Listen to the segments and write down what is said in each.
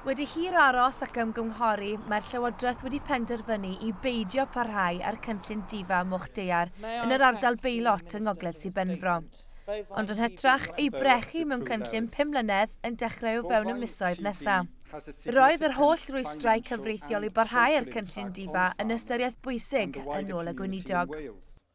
Wedi hir aros ac ymgynghori, mae'r Llywodraeth wedi penderfynu i beidio parhau â'r cynllun difa Moch Daear yn yr ardal beilot yng Ngogledd Sir Benfro. Ond yn hytrach, ei brechu mewn cynllun pum mlynedd yn dechrau o fewn y misoedd nesaf. Roedd yr holl rwystrau cyfreithiol i barhau â'r cynllun difa yn ystyriaeth bwysig, yn ôl y Gweinidog.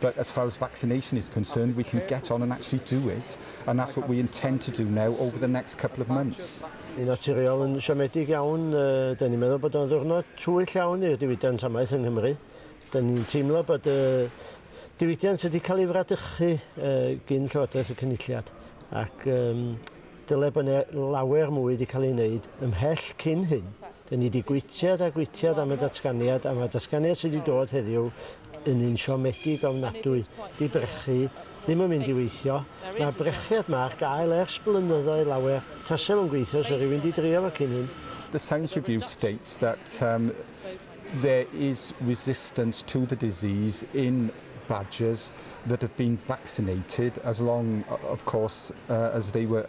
But as far as vaccination is concerned, we can get on and actually do it, and that's what we intend to do now over the next couple of months. Yn naturiol, yn siomedig iawn, dyn ni'n meddwl bod o'n ddwrnod twyll iawn i'r diwydiant amaeth yng Nghymru. Dyn ni'n teimlo bod y diwydiant wedi cael ei fradychu gyn Llywodraeth y Cynulliad ac dyle bod yna lawer mwy wedi cael ei wneud ymhell cyn hyn. Dyn ni di gwitiad a gwitiad am y datganiad a mae'r datganiad sydd wedi dod heddiw yn un siomedig ofnadwy. Di brechu ddim yn mynd i weithio. Mae'r brechiad ma ar gael ers blynyddoedd lawer. Tase fo'n gweithio sa rywun di drio fo cyn hyn. The science review states that um, there is resistance to the disease in badgers that have been vaccinated as long, of course, uh, as they were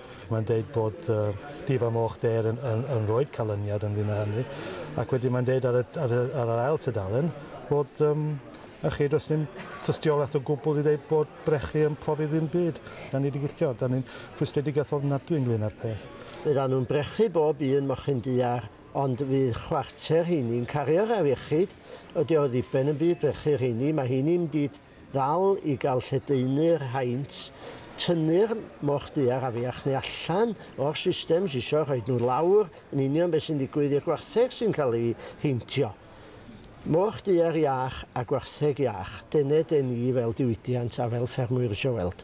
Mae'n dweud bod Dyf a Moch Dêr yn, yn, yn rhoi'r canlyniad ynglyn â hynny. Ac wedyn mae'n dweud ar y, ar y, ar yr ail tudalen bod um, a chi, does dim tystiolaeth o gwbl i ddeud bod brechu yn profi ddim byd. Da ni wedi gwylltio, da ni'n fwysledig a thodd nad dwi'n glyn ar peth. Fydda nhw'n brechu bob un mochyn du ar, ond fydd chwarter heini'n cario'r afiechyd. Ydy o ddiben yn byd brechu rheini, mae heini'n byd Ddal i gael lledaenu'r haint, tynnu'r moch du a'r afiach neu allan o'r systems isio rhoid nhw lawr yn union beth sy'n digwydd i'r gwartheg sy'n cael ei heintio. Moch du ar iach a gwartheg iach, dene den i fel diwydiant a fel ffermwyr isio weld.